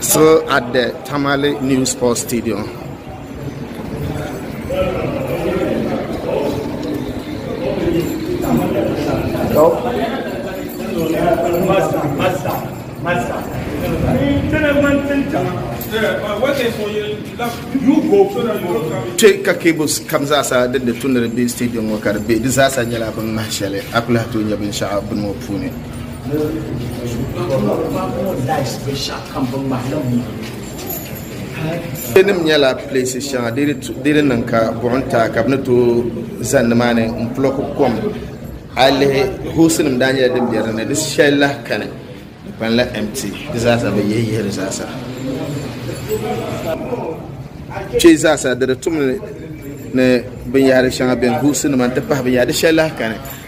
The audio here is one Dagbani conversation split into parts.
Still at the Tamale New Sports Stadium. Kpe ka cables kam zaasa din di tumdi di be stadium ŋɔ ka di be di zaasa nyɛla bin ŋmahi shɛli a kuli lahi tooi nya binshɛɣu bini ŋɔ puuni. nim nyɛla pilesi shɛŋa di di niŋ ka buɣum taa ka bi ni tooi za nimaani n pulɔki kom a yi lihi hoosi nim daa nyɛla din bɛ dinni di shɛli lahi kani di kpanila empty di zaasa bi yihi yihi di zaasa kpɛ zaasa di di tum ni binyahari shɛŋa bɛn hoosi nima n ti pahi binyahari di shɛli lahi kani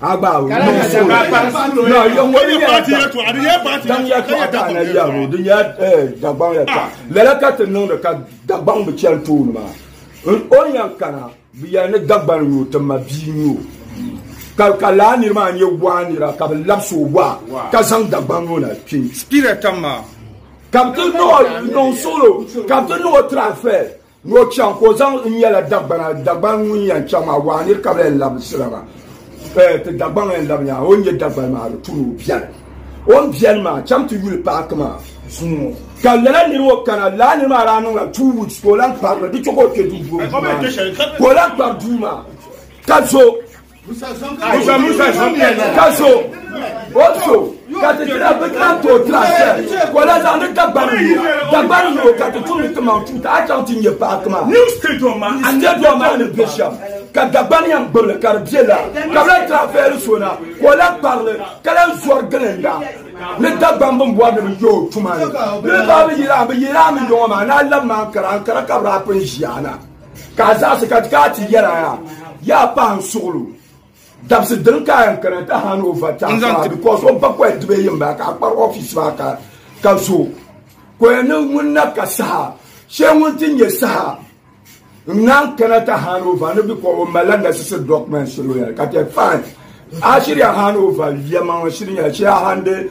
Agbawo no so. No, yo wo ni ya ta. Dan ya to ata na ya ro, din ya eh dagbaŋ ya ta. Lala ka tin niŋ ka dagbaŋ bi chel to ni ma. O yan kana bi ya ni dagbaŋ yo tin ma bi yo. Ka ka la ni ma nye wa ni ra ka bi lab so wa. Ka zang dagbaŋ yo na pi. Spirit ma. Ka bi no no solo, ka bi no transfer. Ni o chaŋ ka o zaŋ n nyɛla Dagbana, Dagbani ŋun yɛn chaŋ maa, waa nir ka bɛ yɛn labisira maa. Eh, ti Dagbaŋ yɛn labi nyahi o ni nyɛ Dagbani maa di tu ni o biɛni. O ni biɛni maa, chaŋ ti yuli paaki maa zuŋɔ. Ka lala nir ŋɔ kana, lala nir maa daa niŋla two weeks ka o lan kpari li, di chɛ ka o kpe duu duɣirigu maa ni, ka o lan kpari duu maa ka zo. Musa Musa ka so o so ka ti tira bi tira to tira sɛ wala zaŋ ni dagbani yo dagbani yo ka ti tum ti maŋ tuuta a chaŋ ti nyɛ paaki maa a nyɛ dɔɔ maa ni bɛ shɛm ka dagbani yɛn gbibili ka di bɛ la ka bɛ tira fɛɛli so na ka o la kparili ka la zɔri gilinda ni dagbani bin bɔri ni bi yo tuma ni ni baa bi yira bi yira mi yɔŋɔ maa ni a labi maa kara kara ka bi daa pun ʒiya na Ka a zaɣisi ka ti ti yɛla yaa, yaa pahi n suɣulu. Dabisi dini ka a yɛn kana ti hand over ti a paɣa because o ba kɔya diba yi n bala ka a kpari office maa ka ka zo. Kɔya ni ŋun na ka saha shee ŋun ti nyɛ saha n naan kana ti hand over ni because o malila necessary documents shɛli o yɛli ka ti fine a shiri ya hand over yɛma ŋɔ shiri nyɛla shee a handi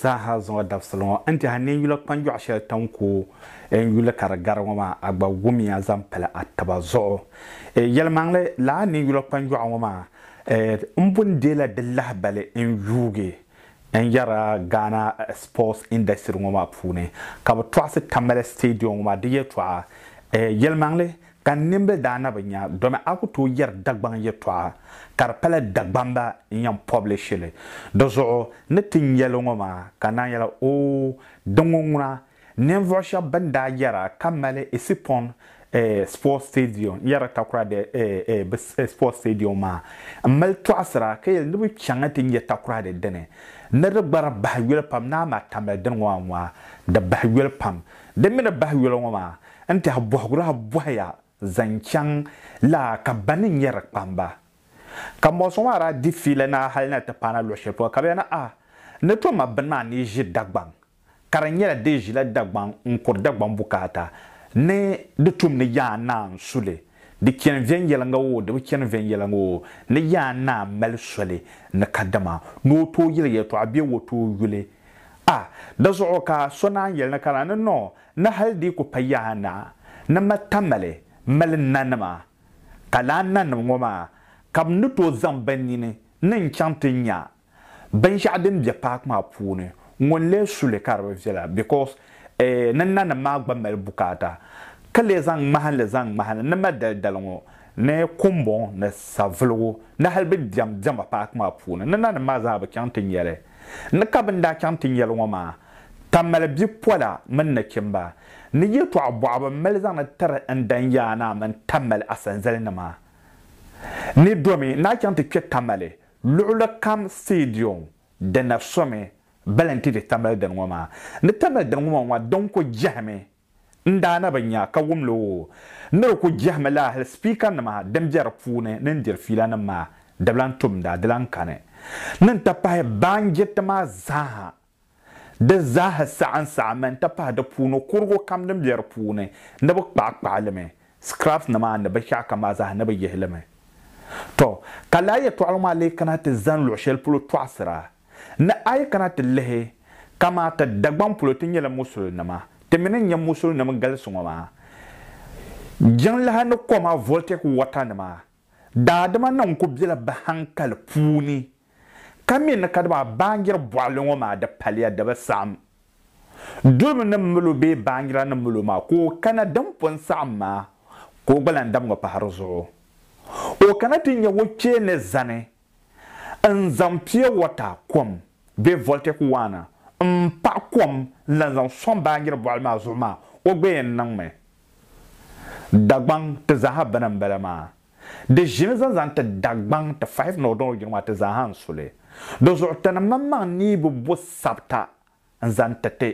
Zaaha zuŋɔ dabisili ŋɔ n tɛha ni n yula kpanjɔɣu shɛli tan ku n yuli ka di gari ŋɔ maa, a gba wumiya zaŋ pali a taba zuɣu. Yɛlimaŋli, lala ni n yula kpanjɔɣu ŋɔ maa, m bo n-deela di lahibali n yuugi n yɛra Ghana sports industry ŋɔ maa puuni ka bɛ tɔɣisi Tamale Stadium ŋɔ maa di yɛltɔɣa. Yɛlimaŋli, Ka n nimbili daa na bi nya domi a ku tooi yɛri Dagbaŋ yɛtɔɣa ka di pala Dagbamba n-yɛn pɔblishiri li. Di zuɣu ni ti nya li ŋɔ maa ka naan yɛla, Oo, di ŋɔ ŋuna, ninvuɣ shɛb bɛn daa yɛra ka mali Isipɔn Sports Stadium n-yɛri takura di bɛ Sports Stadium maa m-mali tɔɣisira ka yɛli ni bɛ chaŋ nti nya takura di dini ni di gbara bahi yoli pam ni amaa tambali dini ŋɔ maa ŋɔ a di bahi yoli pam. Di mi ni bahi yoli ŋɔ maa N tɛhi bɔhigur a bɔhi ya zaŋ chaŋ la ka ba ni nyɛ di kpamba. Ka mɔɣu sɔŋ a daa di fiili na hali na ti paana luɣ shɛli polo ka bɛ ya ni a ni to ma bini maa ni ʒi Dagbaŋ, ka di nyɛla di ʒila Dagbaŋ n-kuri Dagbaŋ bukaata ni di tum ni Yaa Naa n-su li, di chani viɛnyɛliŋga oo di bi chani viɛnyɛliŋga oo, ni Yaa Naa mali soli ni kadama ni o tooi yɛli yɛltɔɣa bee o tooi yuli a dazuɣu ka so naan yɛli ni ka na ni nɔɔ Ni hal dii ku pa yaa na ni ma tamali mali nanima, ka lala nanim ŋɔ maa ka bɛ ni tooi zaŋ bɛ nini ni n-chaŋ ti nya binshɛɣu din be paaki maa puuni ŋɔ n-lee su li ka di bi viɛla because ni nanim maa gba mali bukaata ka lee zaŋ ŋmahinli zaŋ ŋmahini ni ma dalidali ŋɔ ni kumbɔŋ ni savuligu ni hal bɛ diɛm diɛma paaki maa puuni ni nanim maa zaa bi chaŋ ti nya li. Ni ka bɛ ni daa chaŋ ti nya li ŋɔ maa ka mali bipola mini nachimba, ni yɛtɔɣ bɔɣibu m-mali zaŋdi tiri n Danyaa Naa mini Tamale asanzalinima. Ni domi naa chaŋ ti kpe Tamale luɣilikam stadium di na somi bali n-ti di Tamale dini ŋɔ maa. Ni Tamale dini ŋɔ maa ŋɔ din ku jɛhimi n daa na bi nya ka wum li o ni di ku jɛhimi laa hali sipiikanima din be di puuni ni n diri fiilanima maa di bi lan tum daa di lan kani ni n-ti pahi baanjiriti maa zaaha Di zaaha saɣa n saɣa mi n ti pahi di puuni kurigu kam din be di puuni ni bi kpaɣi kpaɣi li mi, scraps ni maa ni binshɛɣu kam maa zaaha ni bi yihi li mi. Tɔ! Ka lala yɛtɔɣili maa lee kana ti zani luɣ shɛli polo tɔɣisira. Ni a yi kana ti lihi, kamaa ti Dagbaŋ polo ti nyɛla musulinima, ti mi ni nya musulinim galisi ŋɔ maa, jiŋlaha ni koma, voltaic water nima, Daadama niŋ ku bela bɛ haŋkali puuni ka mi ni kadama a baanjiri bɔɣili ŋɔ maa di paliya di bi saɣim dulibu ni mil o bee baanjira ni mil o maa ka o kana din pun saɣim maa ka o gba lan dam ŋɔ pahiri zuɣu o kana ti nya o kpee ni zani N zaŋ pure water kom bee voltaic waana n paɣi kom n lan zaŋ sɔŋ baanjiri bɔɣili maa zuɣu maa o gba yɛn niŋmi Dagbaŋ ti zaaha bini n bala maa. Di ʒini zaŋ zaŋ ti Dagbaŋ ti fahi ni o dɔŋ o jina maa ti zaaha n su li. Di zuɣu ti ni maŋmaŋ ni yi bi bo sabita n zaŋ ti ti.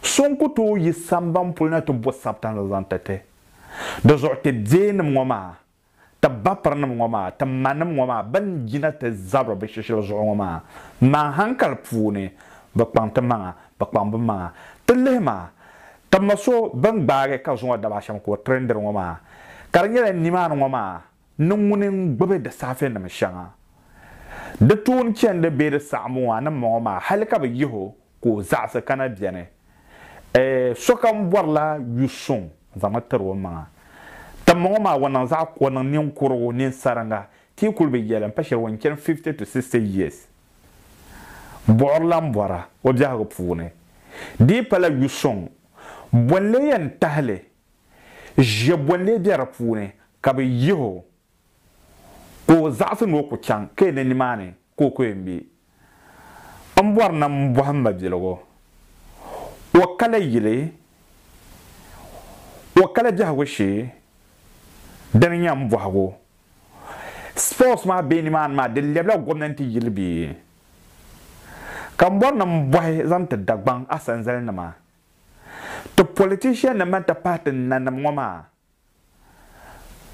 So n ku tooi yi samban puli na ti bo sabita n zaŋ zaŋ ti ti. Di zuɣu ti beenim ŋɔ maa Ti bapirinim ŋɔ maa, ti manim ŋɔ maa bɛn jina ti zabiri bɛ shishili zuɣu ŋɔ maa, maa haŋkali puuni, bɛ kpaŋ ti maŋa, bɛ kpaŋ bɛ maŋa. Ti lihi ma, ti ma so bɛn gbaagi ka zuŋɔ daba shɛm ka o tiri n diri ŋɔ maa, ka di nyɛla nimaani ŋɔ maa ni ŋuni n-gbibi di saafenim shɛŋa. Di toon chɛndi bee di saɣim o a ni ma ŋɔ maa hali ka bɛ yih o ka o zaɣisi kana beni. Ɛɛh, sokam bɔrila yu suŋ zaŋmi tiri o maŋa. Timmɔŋɔ maa o niŋ zaɣ kua niŋ ninkurigu, ninsariŋga, ka yi kuli bi yɛli m pa shɛli o ni chani 50 to 60 years. Buɣirila m-bɔra o biɛhigu puuni. Di yi pala yu suŋ, bɔnlee yɛn tahi li, ʒiɛ bɔnlee be di puuni, ka bɛ yih o, ka o zaɣisi ni o ku chaŋ ka yi ni nimaani. ka o kɔya ŋme. M bɔri na m-bɔhi m mabiligu, o kala yili, o kala biɛhigu shee? Di ni nya m bɔhigu, Spurs maa be nimaani maa, di lɛbila gomnanti yili bee? Ka m bɔri na m-bɔhi zaŋ ti Dagbaŋ asanzalinima, ti politician nima nti pahi ti nanim ŋɔ maa,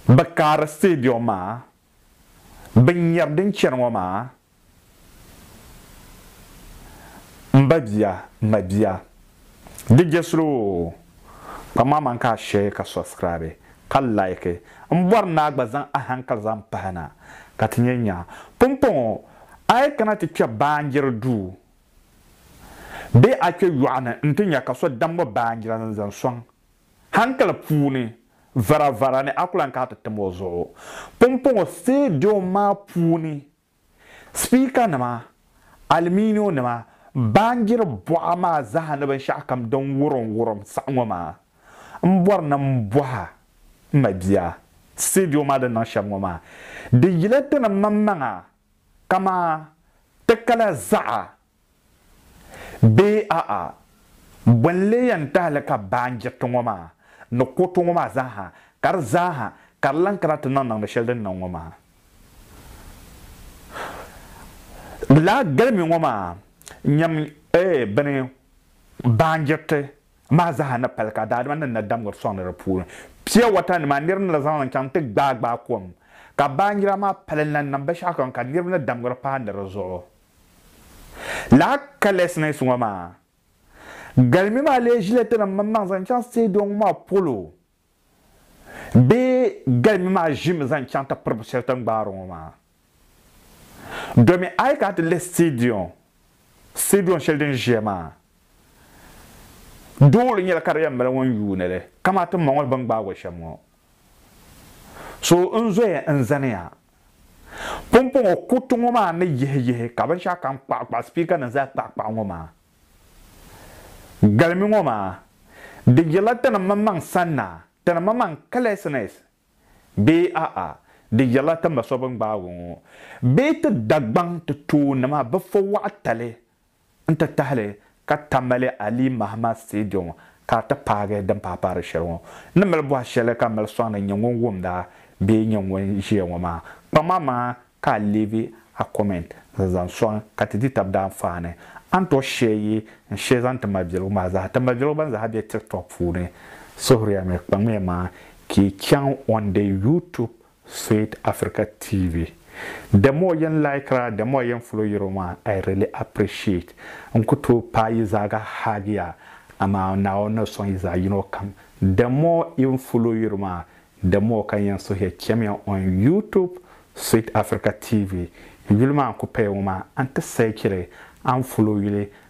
Bɛ kaari stadium maa binyɛr din chani ŋɔ maa m ba bia m ma bia di jɛsili oo kpam maa man ka a share ka subscribe ka like m bɔri ni a gba zaŋ a hankali zaŋ pahi na ka ti nyɛ nya pumpɔŋɔ a yi kana ti kpɛ baanjiri duu bee a kpɛ yɔɣu ni n ti nya ka so dam ŋɔ baanjira ni zaŋ sɔŋ Hankali puuni varavara ni a ku lan kana ti tim o zuɣu pumpɔŋɔ sitediyom maa puuni, sipiikanima, aluminionima, baanjiri buɣa maa zaa ni binshɛɣukam din wurimwurim saha ŋɔ maa, m bɔri ni m bɔh a, m ma bia, sitediyom maa din niŋ shɛm ŋɔ maa, di yila ti ni maŋmaŋa kaman ti kala zaɣa Bee a'a, bɔ n-lee yɛn tahi li ka baanjiriti ŋɔ maa ni kuriti ŋɔ maa zaaha, ka di zaaha ka di lan kana ti niŋ niŋdi shɛli din niŋ ŋɔ maa? Laa galimi ŋɔ maa nyam eeh bini baanjiriti maa zaaha ni pali ka daadama ni na damgiri sɔŋdi di puuni pia wata nima nir ni na zaŋli n-chaŋ ti gbaai gbaai kom, ka baanjira maa pali n-lan niŋ binshɛɣu kam ka niriba ni damgiri paai ni di zuɣu. Lala carelessness ŋɔ maa galimi maa lee ʒila tinim mini maŋ zaŋ chaŋ stadium ŋɔ maa polo bee galimi maa ʒimi zaŋ chaŋ ti piribu shɛli tin gbaari ŋɔ maa? Domin a yi kana ti lihi stadium, stadium shɛli din ʒiya maa doole nyɛla ka di yɛn mali ŋun yuuni li, kamani ti ma ŋɔ ni bɛ ni gbaag o shɛm ŋɔ. So n-zoya n-zaniya pumpɔŋɔ kuriti ŋɔ maa ni yihiyihi ka binshɛɣu kam kpuɣikpuɣi sipiika ni zali kpuɣikpuɣi ŋɔ maa galimi ŋɔ maa di yirila ti ni maŋmaŋ sanna, ti ni maŋmaŋ carelessness bee a'a di yirila ti ma so bɛ ni gbaagi o ŋɔ bee ti Dagbaŋ ti toonima bɛ fo waɣitali N-ti tahili ka Tamale Ali Mahama Stadium ka a ti paagi din paai paari shɛli ŋɔ. N ni mali bɔhi shɛli ka mali sɔŋ ni n-nyɛ ŋun wumda bee n-nyɛ ŋun ʒiya ŋɔ maa, kpaŋmi amaa ka a leave a comment n-zaŋ sɔŋ ka ti di tab daanfaani. A ni tooi share yi n share zaŋ ti mabiligu maa zaa ti mabiligu ban zaa be TikTok puuni. Suhuriya mi, kpaŋmiya maa ka yi chaŋ on the YouTube Sweet Africa TV the more yen likera the more yen follow yero maa I really appreciate n ku tooi paai yi zaa ka haagiya amaa Naawuni ni sɔŋ yi zaa yino kam the more even follow yero maa the more ka n yen suhiya chemiya on YouTube Sweet Africa TV yuli maa n ku paya ŋɔ maa a ni ti sahi cheli a ni follow yuli